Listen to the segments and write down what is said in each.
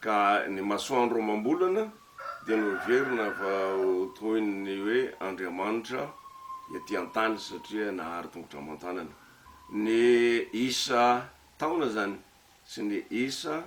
Ka ny masoandro amam-bolana dia noheverina fa ho toy ny hoe andriamanitra ety an-tany satria nahary tongotra aman-tanany. Ny isa taona izany sy ny isa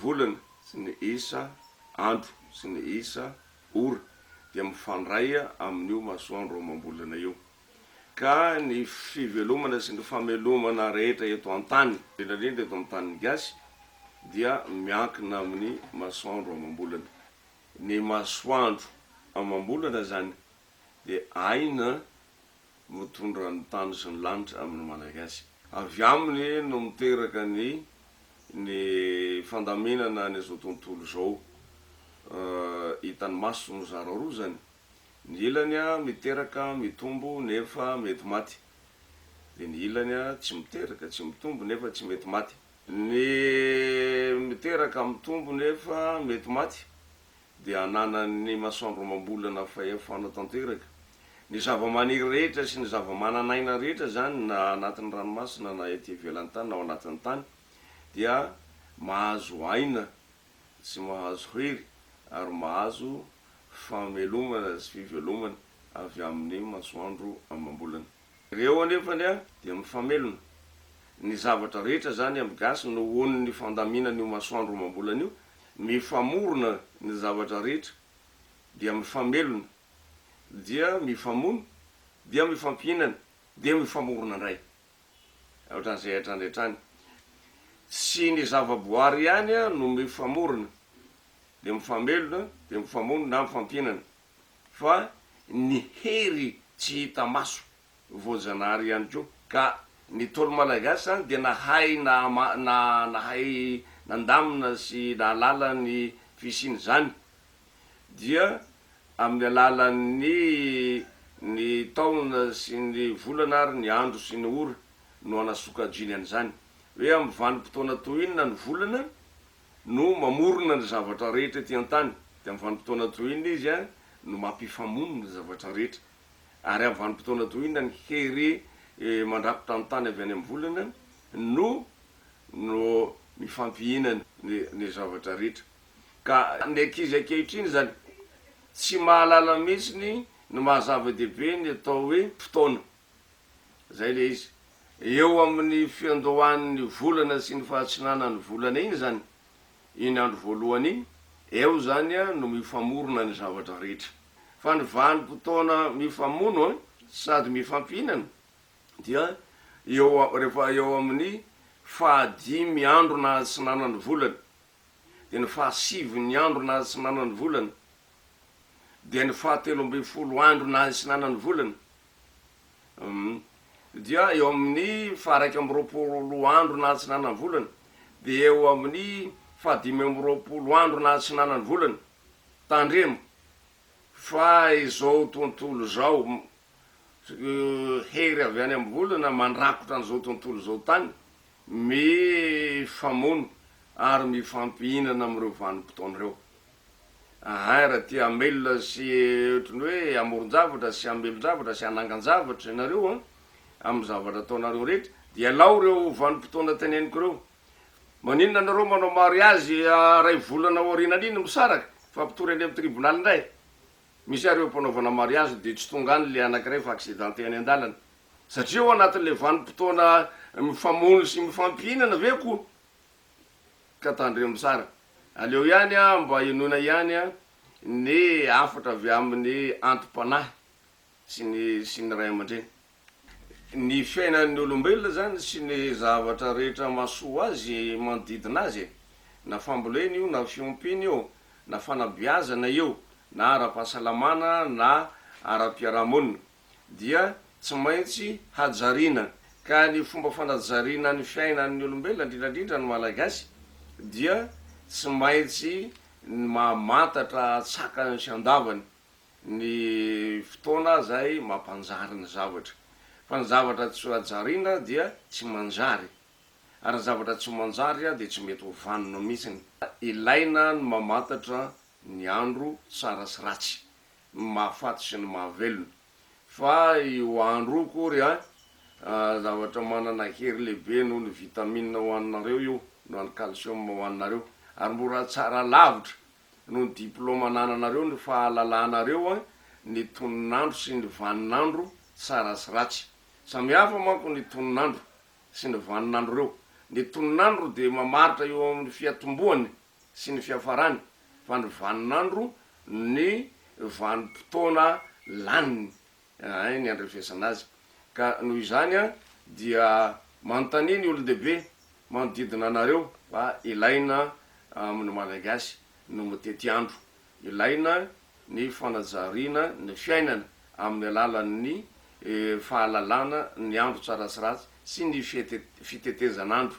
volana sy ny isa andro sy ny isa ora dia mifandray amin'io masoandro amam-bolana io. ka ny fivelomana sy ny famelomana rehetra eto an-tany, indrindra indrindra eto amin'ny tanin'ny gasy, dia miankina amin'ny masoandro amam-bolana. Ny masoandro amam-bolana izany dia aina mitondra ny tany sy ny lanitra amin'ny Malagasy. Avy aminy no miteraka ny ny fandaminana an'izao tontolo izao hitan'ny maso nozararoa izany. Ny ilany miteraka, mitombo, nefa mety maty. Dia ny ilany tsy miteraka, tsy mitombo, nefa tsy mety maty. Ny miteraka, mitombo, nefa mety maty dia ananan'ny masoandro amam-bolana fahefana tanteraka. Ny zava-maniry rehetra sy ny zava-manan'aina rehetra izany na anatin'ny ranomasina na ety ivelan'ny tany na ao anatin'ny tany dia mahazo aina tsy mahazo hery ary mahazo fahamelomana sy fivelomana avy amin'ny masoandro amam-bolana. Ireo anefa dia mifamelona. Ny zavatra rehetra izany amin'ny gasy nohon'ny fandaminan'io masoandro amam-bolana io, mifamorona ny zavatra rehetra dia mifamelona, dia mifamono, dia mifampihinana, dia mifamorona indray. ohatran'ny izay hatrany hatrany. Tsy ny zavaboary ihany no mifamorona dia mifamelona dia mifamono na mifampihinana fa ny hery tsy hita maso voajanahary ihany koa ka ny Ntaolo Malagasy izany dia nahay nahay nandamina sy nahalala ny fisian'izany dia amin'ny alalan'ny ny taona sy ny volana ary ny andro sy ny ora no anasokajiny an'izany. Hoe amin'ny vanim-potoana toy inona ny volana no mamorona ny zavatra rehetra ety an-tany, dia amin'ny vanim-potoana toy inona izy no mampifamono ny zavatra rehetra, ary amin'ny vanim-potoana toy inona ny hery mandrakotra ny tany avy any amin'ny volana no no mifampihinana ny ny zavatra rehetra. Ka ny ankizy ankehitriny izany tsy mahalala mihitsy ny maha zava-dehibe ny atao hoe fotoana. Izay ilay izy. Eo amin'ny fiandohan'ny volana sy ny fahatsinanan'ny volana iny izany, iny andro voalohany iny, eo izany no mifamorona ny zavatra rehetra. Fa ny vanim-potoana mifamono sady mifampihinana dia eo rehefa eo amin'ny fahadimy andro nahatsinanan'ny volana. dia ny fahasivy ny andro nahatsinanany ny volana, dia ny fahatelo ambin'ny folo andro nahatsinanany ny volana, um dia eo amin'ny faharaika amby roapolo andro nahatsinanany ny volana, dia eo amin'ny fahadimy amby roapolo andro nahatsinanany ny volana. Tandremo fa izao tontolo izao, hery avy any amin'ny volana mandrakotra an'izao tontolo izao tany, Mifamono ary mifampihinana amin'ireo vanim-potoana ireo. Ahay raha te hamelona sy ohatran'ny hoe hamoron-javatra sy hamelon-javatra sy hanangan-javatra ianareo amin'ny zavatra ataonareo rehetra dia alao ireo vanim-potoana teneniko ireo. Maninona ianareo manao mariazy iray volana aorianan'iny misaraka fa mpitory any amin'ny tribonaly indray? Misy ary eo am-panaovana mariazy dia tsy tonga any ilay anankiray fa accidenté any an-dalana. Satria ao anatin'ilay vanim-potoana mifamono sy mifampihinana ve ko ka tandremo tsara. Aleo ihany an mba henoina ihany an ny hafatra avy amin'ny anti-panahy sy ny sy ny ray aman-dreny. Ny fiainan'ny olombelona izany sy ny zavatra rehetra mahasoa azy manodidina azy e. Na fambolena io na fiompiana io na fanabeazana io na ara-pahasalamana na ara-piarahamonina. dia tsy maintsy hajariana. Ka ny fomba fanajariana ny fiainan'ny olombelona, indrindra indrindra ny Malagasy, dia tsy maintsy mamantatra an-tsakany sy an-davany ny fotoana izay mampanjary ny zavatra. Fa ny zavatra tsy hajariana dia tsy manjary. Ary ny zavatra tsy manjary dia tsy mety ho vanona mihitsy. Ilaina ny mamantatra ny andro tsara sy ratsy. ny mahafaty sy ny mahavelona. Fa io andro io akory an, zavatra manana hery lehibe noho ny vitamine ho anareo io, noho an'ny calcium ho anareo. Ary mora tsara lavitra noho ny diploma anananareo ny fahalalanareo an ny tonon'andro sy ny vanin'andro tsara sy ratsy. Samihafa manko ny tonon'andro sy ny vanin'andro reo. Ny tonon'andro dia mamaritra eo amin'ny fiatombohan'ny. sy ny fiafarany fa ny vanin'andro ny vanim-potoana laniny eh, ny andrefesana azy. Ka noho izany an, dia manontania ny olon-dehibe manodidina anareo fa ilaina amin'ny Malagasy no mitety andro, ilaina ny fanajariana ny fiainana amin'ny alalan'ny fahalalana ny andro tsara sy ratsy sy ny fitetezan'andro.